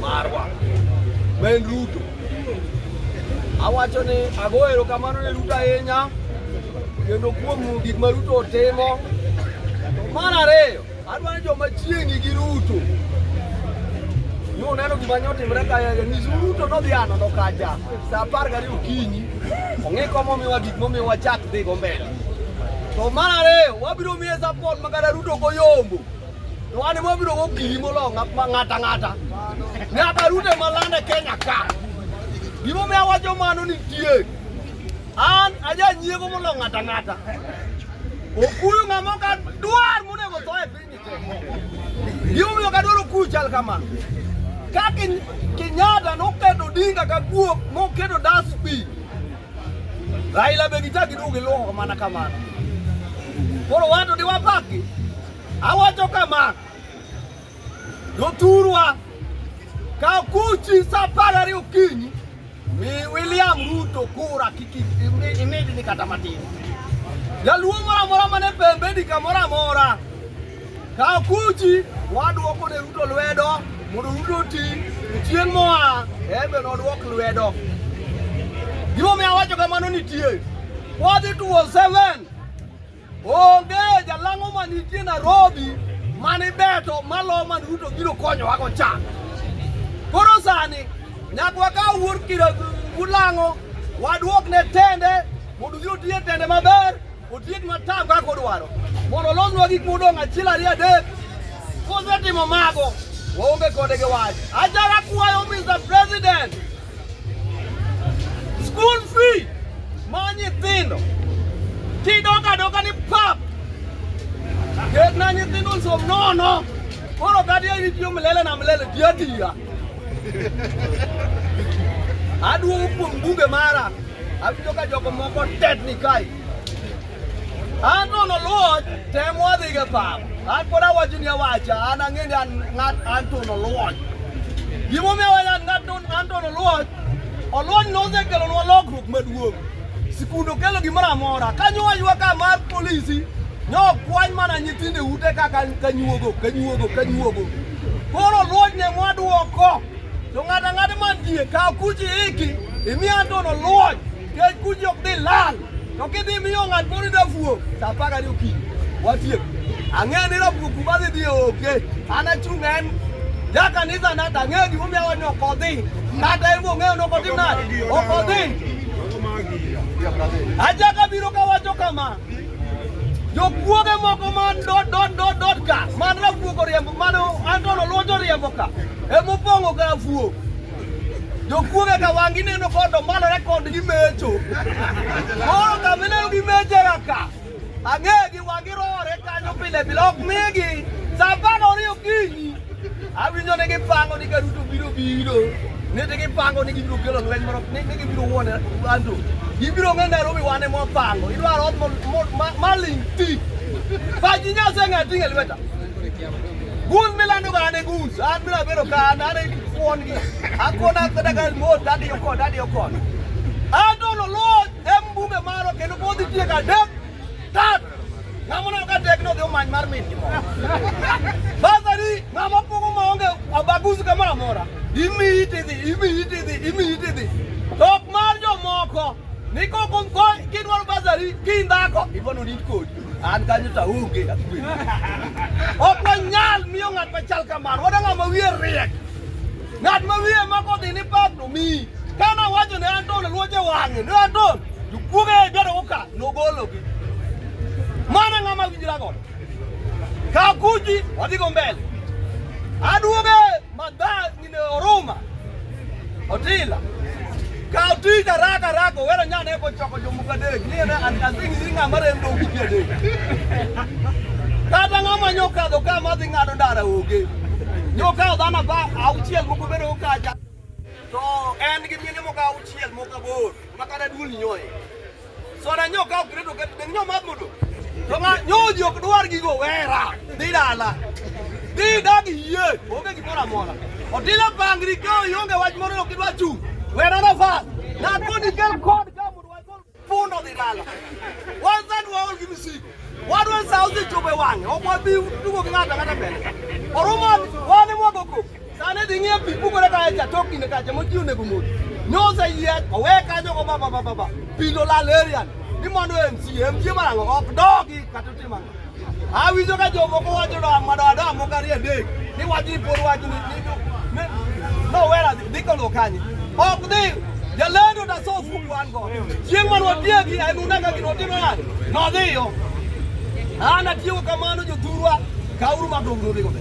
Marwa Ben Ruto awacho ni ago erokamano ne Ruto ahinya kendo kuom gik ma Ruto otimo. To mar ariyo, adwa ni joma chiegni gi Ruto ni uneno gima ne otimre ka nyis Ruto nodhi anono kacha sa apar gariyo okinyi ong'e komomiwa gik momiwa chak dhigo mbele. To mar ariyo, wabiro miye sapot ma kata Ruto ok oyombo. Wani wabiro gokinyi molo ng'ata ng'ata. Nyaka Ruto ema lande Kenya ka. Gimomiyo awacho mano nitie. An ajanyiego molo ng'ata ng'ata. Okuyu ng'ama ok adwar monego tho e piny te. Gimomiyo ok adwar okuyu chal kamano. Ka Ken- Kenyatta noketo Odinga ka guok moketo dustbin. Raila be gichak giduogi luoko mana kamano. Koro wato diwapaki. Awacho kama, jothurwa kaw kuchi sa apar ariyo okinyi mi William Ruto kura kik imedni kata matin. Jaluo moro amora mane pembeni kamoro amora kaw kuchi wadwoko ne Ruto lwedo mondo Ruto oti chieng' moa embe nodwok lwedo. Gimomiyo awacho kamano nitie. Wadhi tuo seven Onge jalang'o ma nitie Nairobi mani beto malo man Ruto biro konyowa go cha. Koro sani nyaka wakaw wuod kira ulang'o wadwok ne tende mondo biro tiye tende maber otiek matam kaka odwaro mondo olosnwa gik modong' achiel ariyo adek kosetimo mago waonge kode gi wach. Achaka kwayo Mr. President School fee ma nyithindo kidok adoka ni pap ketna nyithindo nsom nono koro kati aini tiyo milele na milele tiya tiya aduogo kuom bunge mara awinjo ka jogo moko tetni kae An nono luoch tem wadhi ga pap. An pod awacho ni awacha, an ang'e ni an ng'at an to noluoch. Gimomiyo awacho an ng'at an to noluoch, oluoch nosekelonwa lokruok maduong'. Sikunde okelo gimoro amora, kanyo waywa ka mar polisi, nokwany mana nyithindo e ute kaka kanyuogo, kanyuogo, kanyuogo. Koro luoch ne mwaduoko, to ng'ato ang'ata mantie, kaw kuchi iki, imiya an to noluoch. Kech kun jok dhi lal, to kidhi miyo ng'at moro dafuo, sa apar gariyo okinyi, watiek. Ang'eyo ni rafuo kuma dhi dhi oke, an achung' en ja kanisa na tang'eyo gimomiyo awa ni ok odhi, kata en bong'eyo ni ok otim nade, ok odhi. Achako abiro kawacho kama, jokuoge moko man dot dot dot dot ka man rafuo koriembo mano Anton Oluoch oriembo ka emopong'o ka rafuo jokuoge ka wang' ineno kodo malore kod gimecho koro kamineno gimeche kaka ang'egi wang' irore kanyo pile pile ok migi sa apar oriyo kinyi awinjo ni gipango ni karuto biro biro ni ti gipango ni gibiro kelo lweny moro ni gibiro wuone anto gibiro ng'e Nairobi wane mwapango idwaro ot maling' ti pachi nyase ng'ati ng'e lweta Gus milando gane gus, an biro bedo ka an an kuon gi. Akuon akada ka mo dadi yo kod dadi yo kod. An to no lo em bunge maro kendo pod itie ka dek tat. Ngamo no ka dek no dhi omany mar min gi mo. Sasa ni ngamo pogo ma onge abagus ka mara mora. Imi iti dhi, imi iti dhi, imi iti dhi. Tok mar jomoko. Niko kon kon kidwaro bazari kindako ibono nit kodi. An kanyo to aonge akwe. Ok wanyal miyo ng'at machal kamano. Wadwa ng'at ma wiye riek. Ng'at ma wiye ma kodhi ni pak to miyi. Kane awacho ne Anton luoche wang'e. Ne Anton jokuoge biro uka nogologi. Mano ng'ama winjira godo. Kakuji wadhigo mbele. Aduoge madha Oruma Otila kaw tich araka araka owero nyane eko choko jomoko adek ni ene an kasing ni ng'ama rem dong ji adek kata ng'ama nyokadho ka madhi ng'ado ndara onge nyokadho dhano ba auchiel moko bedo kacha to en gi mine moko auchiel moko aboro Makana duol nyoye. Sona nyo ka ok reto ket nyo ma modo. To ma nyo ji ok dwar gigo wera. Dhi dala. Dhi dag yie. Onge gimoro amora. Otila pangri ka ionge wach moro ok idwa chung. Wera na fa. Na koni kel kod ka modo wagol pundo dhi dala. Wazan waol gi misigo. Wadwa sauzi chobe wang'e. Ok wabi tugo gi ng'ato ang'ata mbele. Orumo wane mwago koko. Sane dhi ng'iyo pi pukore ka echa tok kinde kacha moji onego modhi. Nyosa yie owe kanyo go baba baba baba. Pi lo lal erian. Ni mondo MC MC marango ok dogi kata otima. Awinjo ka jomoko wacho do amado ado amoka rie dek. Ni wacho ni pod wacho ni ni ni no wera dhi kolo kanye. Ok dhi jalendo da so fuku an go. Chieng' man watiegi en unega gino otimo nade? Nodhiyo. An atiyo kamano jothurwa kauru madong nodhigo be.